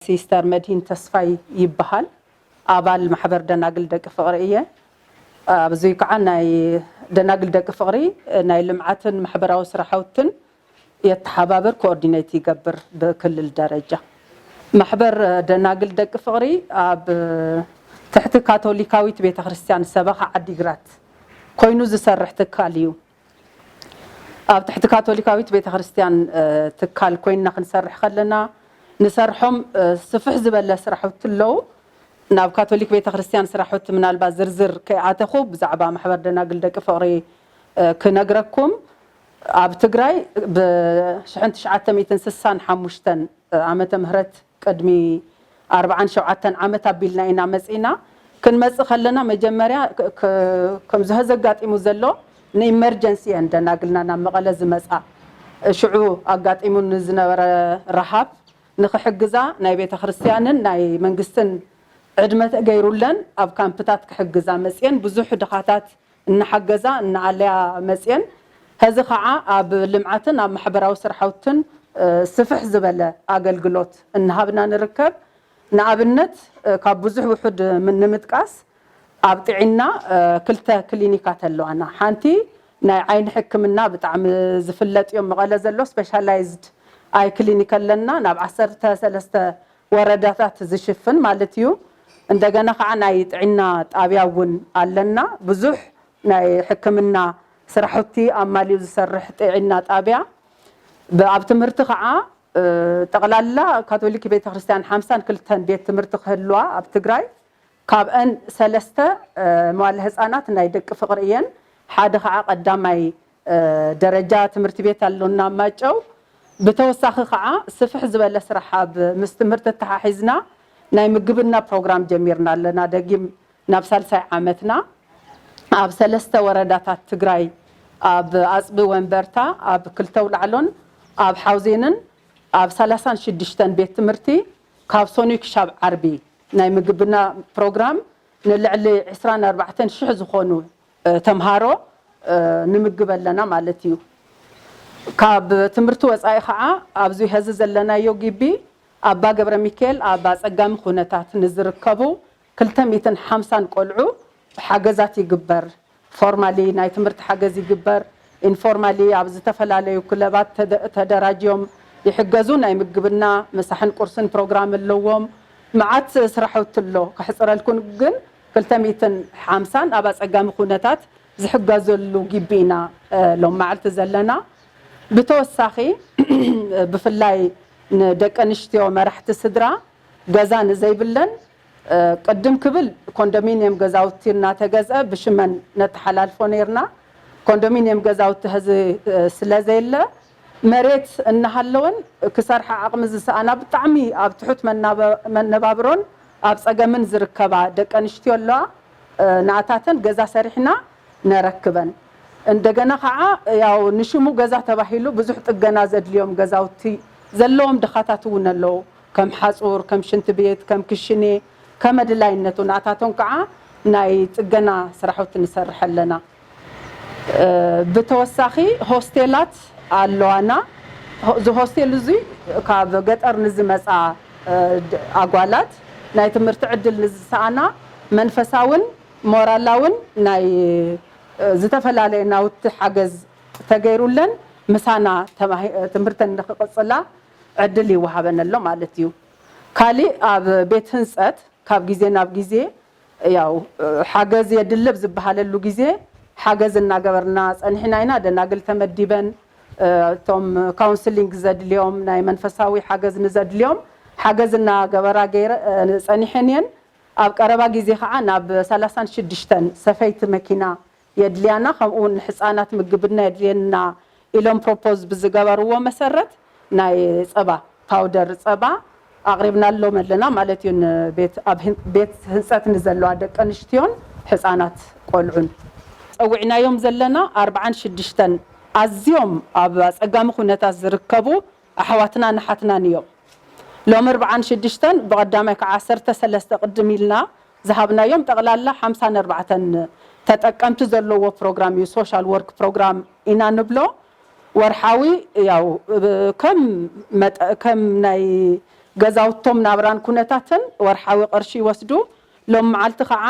ሲስተር መድሂን ተስፋይ ይበሃል ኣባል ማሕበር ደናግል ደቂ ፍቅሪ እየ ኣዚ ካዓ ናይ ደናግል ደቂ ፍቅሪ ናይ ልምዓትን ማሕበራዊ ስራሕውትን የተሓባብር ኮኦርዲነይት ይገብር ብክልል ደረጃ ማሕበር ደናግል ደቂ ፍቅሪ ኣብ ትሕቲ ካቶሊካዊት ቤተክርስትያን ሰበኻ ዓዲግራት ኮይኑ ዝሰርሕ ትካል እዩ ኣብ ትሕቲ ካቶሊካዊት ቤተክርስትያን ትካል ኮይንና ክንሰርሕ ከለና ንሰርሖም ስፍሕ ዝበለ ስራሕቲ ኣለው። ናብ ካቶሊክ ቤተክርስትያን ስራሕቲ ምናልባት ዝርዝር ከይኣተኹ ብዛዕባ ማሕበር ደናግል ደቂ ፍቕሪ ክነግረኩም። ኣብ ትግራይ ብ ሽሕን ትሽዓተ ሚእትን ስሳን ሓሙሽተን ዓመተ ምህረት ቅድሚ ኣርብዓን ሸውዓተን ዓመት ኣቢልና ኢና መጺእና። ክንመጽእ ከለና መጀመርያ ከምዚ ሀዚ ኣጋጢሙ ዘሎ ንኢመርጀንሲ እየን ደናግልና ናብ መቐለ ዝመጻ። ሽዑ ኣጋጢሙ ንዝነበረ ረሃብ ንክሕግዛ ናይ ቤተክርስትያንን ናይ መንግስትን ዕድመ ተገይሩለን ኣብ ካምፕታት ክሕግዛ መጺኤን ብዙሕ ድኻታት እናሓገዛ እናኣለያ መፅየን። ሀዚ ከዓ ኣብ ልምዓትን ኣብ ማሕበራዊ ስራሕውትን ስፍሕ ዝበለ ኣገልግሎት እናሃብና ንርከብ። ንኣብነት ካብ ብዙሕ ውሑድ ንምጥቃስ ኣብ ጥዒና ክልተ ክሊኒካት ኣለዋና። ሓንቲ ናይ ዓይኒ ሕክምና ብጣዕሚ ዝፍለጥ እዮ መቐለ ዘሎ ስፔሻላይዝድ ኣይ ክሊኒክ ኣለና ናብ ዓሰርተ ሰለስተ ወረዳታት ዝሽፍን ማለት እዩ። እንደገና ካዓ ናይ ጥዒና ጣብያ እውን ኣለና ብዙሕ ናይ ሕክምና ስራሑቲ ኣማሊኡ ዝሰርሕ ጢዒና ጣብያ ብኣብ ትምህርቲ ካዓ ጠቅላላ ካቶሊክ ቤተክርስትያን ሓምሳን ክልተን ቤት ትምህርቲ ክህልዋ ኣብ ትግራይ ካብእን ሰለስተ መዋለ ህፃናት ናይ ደቂ ፍቅሪ እየን ሓደ ካዓ ቀዳማይ ደረጃ ትምህርቲ ቤት ኣሎና ኣብ ማይጨው። ብተወሳኺ ከዓ ስፍሕ ዝበለ ስራሕ ኣብ ምስ ትምህርቲ ኣተሓሒዝና ናይ ምግብና ፕሮግራም ጀሚርና ኣለና ደጊም ናብ ሳልሳይ ዓመትና ኣብ ሰለስተ ወረዳታት ትግራይ ኣብ ኣፅቢ ወንበርታ ኣብ ክልተ ኣውላዕሎን ኣብ ሓውዜንን ኣብ ሰላሳን ሽዱሽተን ቤት ትምህርቲ ካብ ሰኑይ ክሻብ ዓርቢ ናይ ምግብና ፕሮግራም ንልዕሊ ዕስራን ኣርባዕተን ሽሕ ዝኾኑ ተምሃሮ ንምግብ ኣለና ማለት እዩ። ካብ ትምህርቲ ወፃኢ ከዓ ኣብዚ ሀዚ ዘለናዮ ግቢ ኣባ ገብረሚካኤል ኣብ ኣፀጋሚ ኩነታት ንዝርከቡ ክልተ ሚእትን ሓምሳን ቆልዑ ሓገዛት ይግበር። ፎርማሊ ናይ ትምህርቲ ሓገዝ ይግበር፣ ኢንፎርማሊ ኣብ ዝተፈላለዩ ክለባት ተደራጅዮም ይሕገዙ፣ ናይ ምግብና ምሳሕን ቁርስን ፕሮግራም ኣለዎም፣ መዓት ስራሕውቲ ኣሎ። ከሕፅረልኩም ግን ክልተ ሚእትን ሓምሳን ኣብ ኣፀጋሚ ኩነታት ዝሕገዘሉ ግቢ ኢና ሎሚ መዓልቲ ዘለና። ብተወሳኺ ብፍላይ ንደቂ ኣንሽትዮ መራሕቲ ስድራ ገዛ ንዘይብለን ቅድም ክብል ኮንዶሚንየም ገዛውቲ እናተገዝኣ ብሽመን ነተሓላልፎ ነይርና። ኮንዶሚንየም ገዛውቲ ሀዚ ስለዘየለ፣ መሬት እናሃለወን ክሰርሓ ዓቕሚ ዝሰኣና ብጣዕሚ ኣብ ትሑት መነባብሮን ኣብ ፀገምን ዝርከባ ደቂ ኣንሽትዮ ኣለዋ ንኣታተን ገዛ ሰሪሕና ነረክበን እንደገና ከዓ ያው ንሽሙ ገዛ ተባሂሉ ብዙሕ ጥገና ዘድልዮም ገዛውቲ ዘለዎም ድኻታት እውን ኣለው ከም ሓፁር ከም ሽንቲ ቤት ከም ክሽኔ ከመድላይነቱ ንኣታቶም ከዓ ናይ ፅገና ስራሕውቲ ንሰርሕ ኣለና። ብተወሳኺ ሆስቴላት ኣለዋና። እዚ ሆስቴል እዙይ ካብ ገጠር ንዝመፃ ኣጓላት ናይ ትምህርቲ ዕድል ንዝሰኣና መንፈሳውን ሞራላውን ናይ ዝተፈላለየ ናውቲ ሓገዝ ተገይሩለን ምሳና ትምህርተን ንክቕፅላ ዕድል ይወሃበን ኣሎ ማለት እዩ። ካሊእ ኣብ ቤት ህንፀት ካብ ግዜ ናብ ግዜ ያው ሓገዝ የድሊ ኣብ ዝበሃለሉ ግዜ ሓገዝ እናገበርና ፀኒሕና ኢና። ደናግል ተመዲበን እቶም ካውንስሊንግ ዘድልዮም ናይ መንፈሳዊ ሓገዝ ንዘድልዮም ሓገዝ እናገበራ ፀኒሐን እየን። ኣብ ቀረባ ግዜ ከዓ ናብ ሰላሳን ሽዱሽተን ሰፈይቲ መኪና የድልያና ከምኡ ውን ንሕጻናት ምግብና የድልየና ኢሎም ፕሮፖዝ ብዝገበርዎ መሰረት ናይ ጸባ ፓውደር ጸባ ኣቕሪብናሎም ኣለና ማለት ዩ ንቤት ኣብ ቤት ህንጸት ንዘለዋ ደቂ ኣንሽትዮን ሕጻናት ቆልዑን። ጸዊዕናዮም ዘለና ኣርብዓን ሽድሽተን ኣዝዮም ኣብ ኣጸጋሚ ኩነታት ዝርከቡ ኣሕዋትናን ኣሓትናን ኢዮም ሎሚ ኣርብዓን ሽድሽተን ብቐዳማይ ክዓ ዓሰርተ ሰለስተ ቅድም ኢልና ዝሃብናዮም ጠቕላላ ሓምሳ ን ኣርባዕተ ን ተጠቀምቲ ዘለዎ ፕሮግራም እዩ ሶሻል ወርክ ፕሮግራም ኢና ንብሎ ወርሓዊ ያው ከም መጠ ከም ናይ ገዛውቶም ናብራን ኩነታትን ወርሓዊ ቅርሺ ይወስዱ ሎሚ መዓልቲ ኸዓ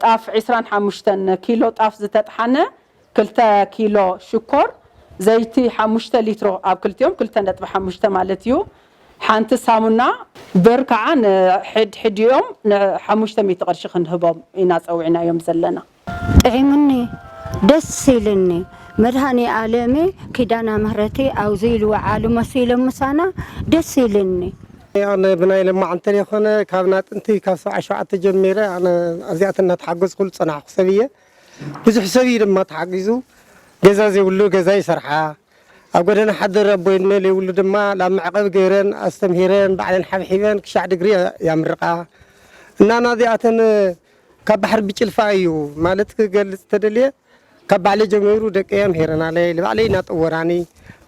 ጣፍ ዕስራን ሓሙሽተን ኪሎ ጣፍ ዝተጥሓነ ክልተ ኪሎ ሽኮር፣ ዘይቲ ሓሙሽተ ሊትሮ፣ ኣብ ክልቲኦም ክልተ ነጥቢ ሓሙሽተ ማለት እዩ፣ ሓንቲ ሳሙና፣ ብር ካዓ ንሕድ ሕዲኦም ን ሓሙሽተ ሚእቲ ቅርሺ ክንህቦም ኢና ፀዊዕናዮም ዘለና። ጥዒሙኒ ደስ ኢልኒ መድሃኔ ኣለሜ ኪዳና ምህረቲ ኣውዙይ ልውዓሉ መሲሎም ምሳና ደስ ኢልኒ። ኣነ ብናይ ለማዕንቲ ተለይኮነ ካብ ናጥንቲ ካብ ሰብዓይ ሸውዓተ ጀሚረ ኣነ ኣዚኣተን ናተሓገዝኩሉ ዝፀናሕኩ ሰብ እየ ብዙሕ ሰብ እዩ ድማ ተሓጊዙ ገዛ ዘይብሉ ገዛ ይሰርሓ ኣብ ጎደና ሓደር ኣቦይ እኖ ለይብሉ ድማ ላብ መዕቐቢ ገይረን ኣስተምሂረን ባዕለን ሓብሒበን ክሻዕ ድግሪ ያምርቓ እና ናዚኣተን ካብ ባሕሪ ብጭልፋ እዩ ማለት ክገልፅ ተደልየ ካብ ባዕለይ ጀሚሩ ደቀይ ኣምሂረናለይ ልባዕለይ ናጠወራኒ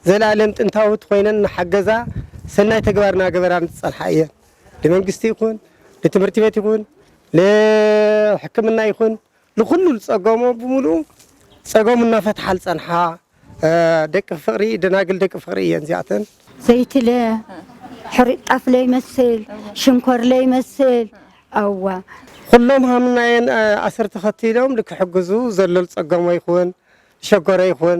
ዘላለም ጥንታውት ኮይነን ናሓገዛ ሰናይ ተግባር ናገበራኒ ዝፀንሓ እየን። ንመንግስቲ ይኹን ንትምህርቲ ቤት ይኹን ንሕክምና ይኹን ንኹሉ ዝፀገሞ ብምሉኡ ፀገሙ እናፈትሓ ዝፀንሓ ደቂ ፍቕሪ ደናግል ደቂ ፍቕሪ እየን እዚኣተን። ዘይቲ ለ ሕሩጭ ጣፍ ለይመስል ሽንኮር ለይመስል ኣዋ ኹሎም ሃምናየን ኣሰር ተኸቲሎም ንክሕግዙ ዘሎ ዝፀገሞ ይኹን ዝሸገሮ ይኹን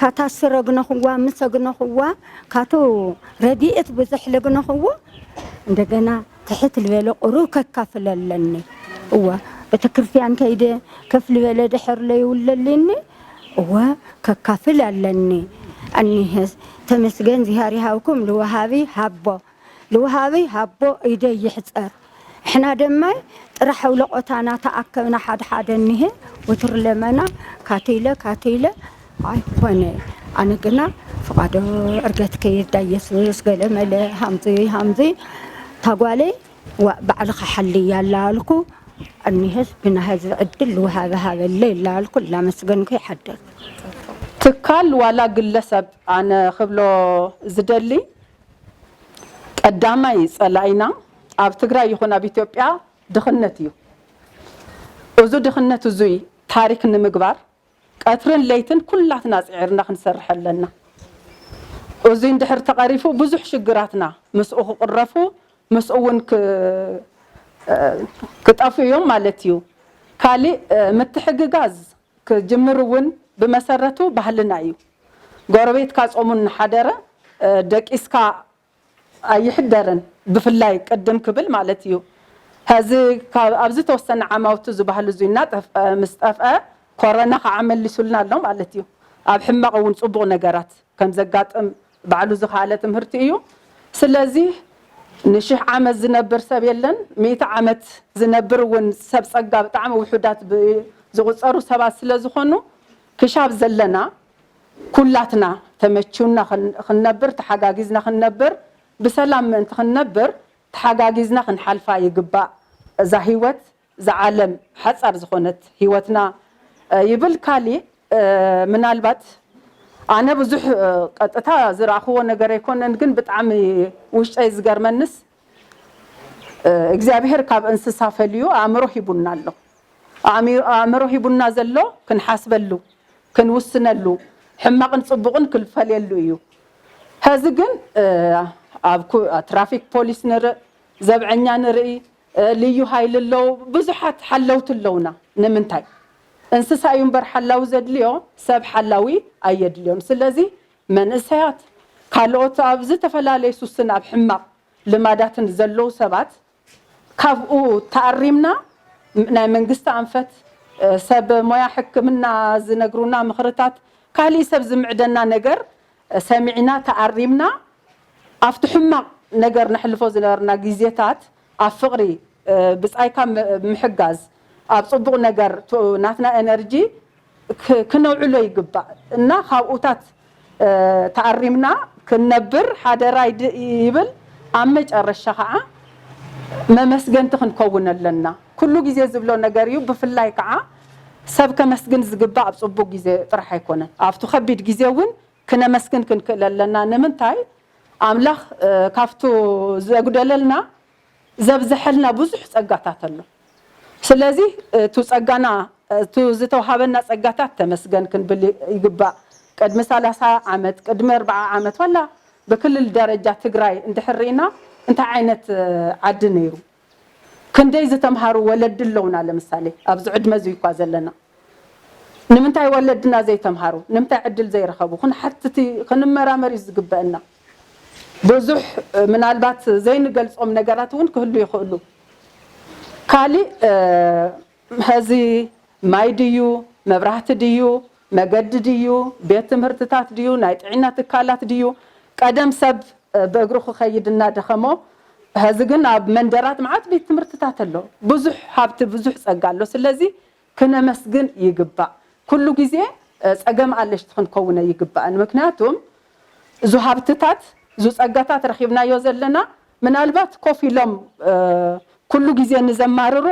ካታሱ ረግነኹዋ ምሰ ግነኹዋ ካቱ ረዲኤት ብዙሕ ልግነኹዎ እንደገና ትሕት ልበለ ቁሩብ ከካፍለ ኣለኒ እወ ቤተክርስቲያን ከይደ ከፍ ልበለ ድሕር ለይውለሊኒ እወ ከካፍል ኣለኒ እኒሀስ ተመስገን ዝሃር ይሃብኩም ልወሃቢ ሃቦ ልውሃበይ ሃቦ ኢደይ ይሕጸር እሕና ደማይ ጥራሕ ኣውለቆታ ናተኣከብና ሓደ ሓደ እኒሀ ወትሩ ለመና ካተይለ ካተይለ ኣይኾነ ኣነ ግና ፍቃዶ ዕርገት ከይርዳ ኢየሱስ ገለመለ ሃምዚ ሃምዚ ታጓለይ ዋእ ባዕልኻ ሓልያ ላልኩ እኒሀስ ግና ህዝቢ ዕድል ልውሃበ ሃበለይ ላልኩ ላመስገንኩ ይሓድር። ትካል ዋላ ግለሰብ ኣነ ክብሎ ዝደሊ ቀዳማይ ፀላኢና ኣብ ትግራይ ይኹን ኣብ ኢትዮጵያ ድኽነት እዩ። እዙ ድኽነት እዙይ ታሪክ ንምግባር ቀትርን ለይትን ኩላትና ፅዒርና ክንሰርሕ ኣለና። እዙይ እንድሕር ተቐሪፉ ብዙሕ ሽግራትና ምስኡ ክቕረፉ ምስኡ እውን ክጠፍኡ እዮም ማለት እዩ። ካሊእ ምትሕግጋዝ ክጅምር እውን ብመሰረቱ ባህልና እዩ። ጎረቤትካ ፆሙ እናሓደረ ደቂስካ ኣይሕደርን ብፍላይ ቅድም ክብል ማለት እዩ። ሀዚ ኣብ ዝተወሰነ ዓማውቲ እዚ ባህሊ እዙይ እናጠፍኣ ምስ ጠፍኣ ኮረና ከዓ መሊሱልና ኣሎ ማለት እዩ። ኣብ ሕማቕ እውን ፅቡቕ ነገራት ከምዘጋጥም ባዕሉ ዝኸኣለ ትምህርቲ እዩ ስለዚ ንሽሕ ዓመት ዝነብር ሰብ የለን ሚእቲ ዓመት ዝነብር እውን ሰብ ፀጋ ብጣዕሚ ውሑዳት ብዝቁፀሩ ሰባት ስለዝኾኑ ክሻብ ዘለና ኩላትና ተመችዩና ክንነብር ተሓጋጊዝና ክንነብር ብሰላም ምእንቲ ክንነብር ተሓጋጊዝና ክንሓልፋ ይግባእ እዛ ሂወት እዛ ዓለም ሓጻር ዝኾነት ህይወትና ይብል ካሊእ ምናልባት ኣነ ብዙሕ ቀጥታ ዝረኣኽዎ ነገር ኣይኮነን ግን ብጣዕሚ ውሽጠይ ዝገርመንስ እግዚኣብሄር ካብ እንስሳ ፈልዩ ኣእምሮ ሂቡና ኣሎ ኣእምሮ ሂቡና ዘሎ ክንሓስበሉ ክንውስነሉ ሕማቕን ጽቡቕን ክንፈልየሉ እዩ ሀዚ ግን ኣብ ትራፊክ ፖሊስ ንርእ ዘብዐኛ ንርእይ ልዩ ሃይሊ ኣለው ብዙሓት ሓለውቲ ኣለውና ንምንታይ እንስሳ እዩ እምበር ሓላዊ ዘድልዮ ሰብ ሓላዊ ኣየድልዮን ስለዚ መንእሰያት ካልኦት ኣብ ዝተፈላለዩ ሱስን ኣብ ሕማቅ ልማዳትን ዘለው ሰባት ካብኡ ተኣሪምና ናይ መንግስቲ ኣንፈት ሰብ ሞያ ሕክምና ዝነግሩና ምኽርታት ካሊእ ሰብ ዝምዕደና ነገር ሰሚዕና ተኣሪምና ኣብቲ ሕማቕ ነገር ነሕልፎ ዝነበርና ግዜታት ኣብ ፍቕሪ ብጻይካ ምሕጋዝ ኣብ ጽቡቕ ነገር ናትና ኤነርጂ ክነውዕሎ ይግባእ እና ካብኡታት ተኣሪምና ክንነብር ሓደራ ይብል ኣብ መጨረሻ ከኣ መመስገንቲ ክንከውን ኣለና። ኩሉ ግዜ ዝብሎ ነገር እዩ ብፍላይ ካዓ ሰብ ከመስግን ዝግባእ ኣብ ፅቡቅ ግዜ ጥራሕ ኣይኮነን ኣብቱ ከቢድ ግዜ እውን ክነመስግን ክንክእል ኣለና ንምንታይ ኣምላክ ካብቱ ዘጉደለልና ዘብዘሐልና ብዙሕ ፀጋታት ኣሎ ስለዚ እቱ ፀጋና እቱ ዝተውሃበና ፀጋታት ተመስገን ክንብል ይግባእ ቅድሚ ሰላሳ ዓመት ቅድሚ ኣርባዓ ዓመት ዋላ ብክልል ደረጃ ትግራይ እንድሕር ሪኢና እንታይ ዓይነት ዓዲ ነይሩ ክንደይ ዝተምሃሩ ወለዲ ኣለውና ለምሳሌ ኣብዚ ዕድመ እዙይ እኳ ዘለና ንምንታይ ወለድና ዘይተምሃሩ ንምታይ ዕድል ዘይረኸቡ ክንሓትት ክንመራመር እዩ ዝግበእና ብዙሕ ምናልባት ዘይንገልፆም ነገራት እውን ክህሉ ይኽእሉ ካሊእ ሐዚ ማይ ድዩ መብራህቲ ድዩ መገዲ ድዩ ቤት ትምህርትታት ድዩ ናይ ጥዒና ትካላት ድዩ ቀደም ሰብ ብእግሩ ክከይድ እናደኸሞ ሐዚ ግን ኣብ መንደራት መዓት ቤት ትምህርትታት ኣሎ ብዙሕ ሃብቲ ብዙሕ ፀጋ ኣሎ ስለዚ ክነመስግን ይግባእ ኩሉ ግዜ ፀገም ኣለሽቲ ክንከውን ኣይግባእን ምክንያቱም እዙ ሃብትታት እዙ ፀጋታት ረኪብናዮ ዘለና ምናልባት ኮፍ ኢሎም ኩሉ ግዜ ንዘማርሩ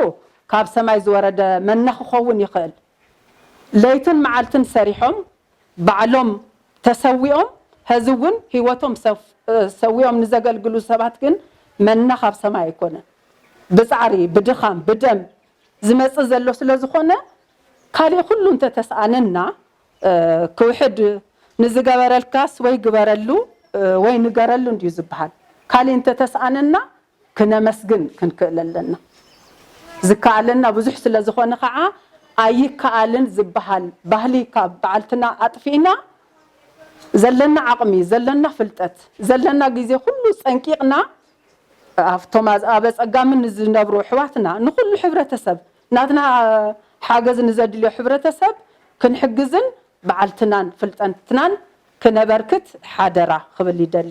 ካብ ሰማይ ዝወረደ መና ክኸውን ይኽእል። ለይትን መዓልትን ሰሪሖም ባዕሎም ተሰዊኦም ሀዚ እውን ህይወቶም ሰዊኦም ንዘገልግሉ ሰባት ግን መና ካብ ሰማይ ኣይኮነን። ብፃዕሪ፣ ብድኻም፣ ብደም ዝመፅእ ዘሎ ስለዝኾነ ካሊእ ኩሉ እንተተስኣነና ክውሕድ ንዝገበረልካስ ወይ ግበረሉ ወይ ንገረሉ እንድዩ ዝብሃል። ካሊእ እንተተስኣነና ክነመስግን ክንክእል ኣለና። ዝከኣለና ብዙሕ ስለዝኾነ ከዓ ኣይከኣልን ዝብሃል ባህሊ ካብ በዓልትና ኣጥፊእና ዘለና ዓቕሚ፣ ዘለና ፍልጠት፣ ዘለና ግዜ ኩሉ ፀንቂቕና ኣብቶም ኣብ ኣፀጋሚ ንዝነብሩ ኣሕዋትና ንኹሉ ሕብረተሰብ ናትና ሓገዝ ንዘድልዮ ሕብረተሰብ ክንሕግዝን ባዓልትናን ፍልጠትናን ክነበርክት ሓደራ ክብል ይደሊ።